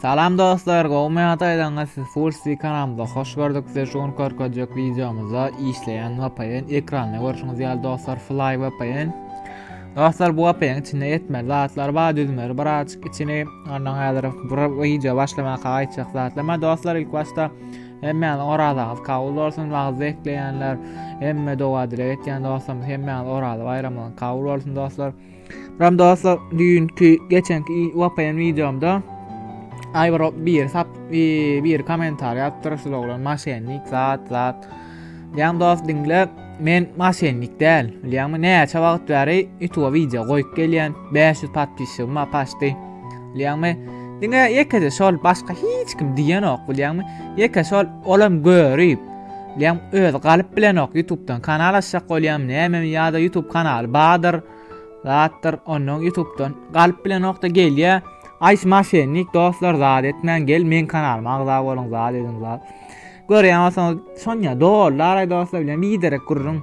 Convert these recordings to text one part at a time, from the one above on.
Salam dostlar gowmy ýa-da ýaňy siz full swing kanalymyza hoş gördük size şu gün körkezjek wideomyzda işleýän VPN ekranda görşüňiz ýaly dostlar Fly VPN Dostlar bu VPN içinde ýetmeli zatlar bar düzmeli bir açyk içini ondan häzir bir wideo başlamak aýtjak zatlar bar dostlar ilk başda Hemmäňiz orazaňyz kabul bolsun wagzy ekleýänler hemme doga dilek etýän dostlarymyz hemmäňiz oraza baýramyňyz kabul bolsun dostlar Ram dostlar düýnki geçenki wapaýan wideomda Aýbar bir sap bir kommentariý atdyr şu oglan maşennik zat zat. Ýan dost diňle men maşennik däl. Bilýäňmi näçe wagt bäri YouTube wideo goýup gelýän 500 podpisçigim bar paşdy. Bilýäňmi diňe ýekeje şol başga hiç kim diýenok bilýäňmi ýeke şol olam görüp Diýem öz galyp bilenok YouTube'dan kanal açjak bolýam näme ýa-da YouTube kanaly bardyr. Zatdyr ondan YouTube'dan galyp bilenokda gelýä. Aýs maşennik dostlar zat etmän gel men kanalyma agza boluň zat ediň zat. Görýän bolsaňyz Sonya dollar aý dostlar bilen biderek gurrun.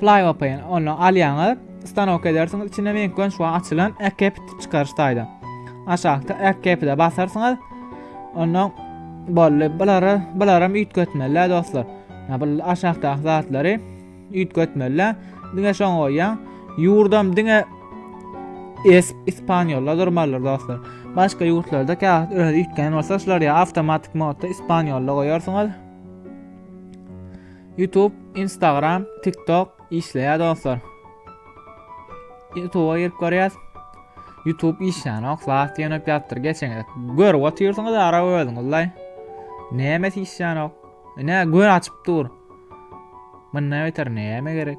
Flyopin, onu alýaňyz, stanok edersiňiz, içinde meň gönç we açylan ekep çykaryş taýda. Aşakda ekep de basarsyňyz. Ondan bolly, bulara, bularam üýtgetmeli dostlar. Ya bu aşakda zatlary üýtgetmeli. Diňe şoň goýýan. Yurdam diňe es ispanýolla durmalydyr dostlar. Başga ýurtlarda käwagt öz üýtgän bolsa, şular ýa awtomatik modda ispanýolla goýarsyňyz. Youtube, Instagram, TikTok işleýär dostlar. Youtube-a girip görýäs. Youtube işlänok, zat ýönüp ýapdyr geçeňiz. Görüp otyrsyňyz ara özüňizle. Näme işlänok? Ine gör açyp dur. Munda beter näme gerek?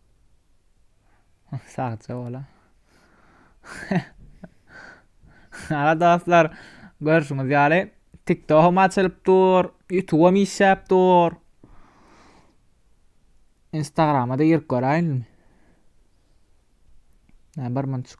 Sagja bola. Aga dostlar, görüşüňiz ýaly TikTok-am açylyp dur, YouTube-am işläp dur. Instagrama da girip göräýinmi? Nä bir munçuk.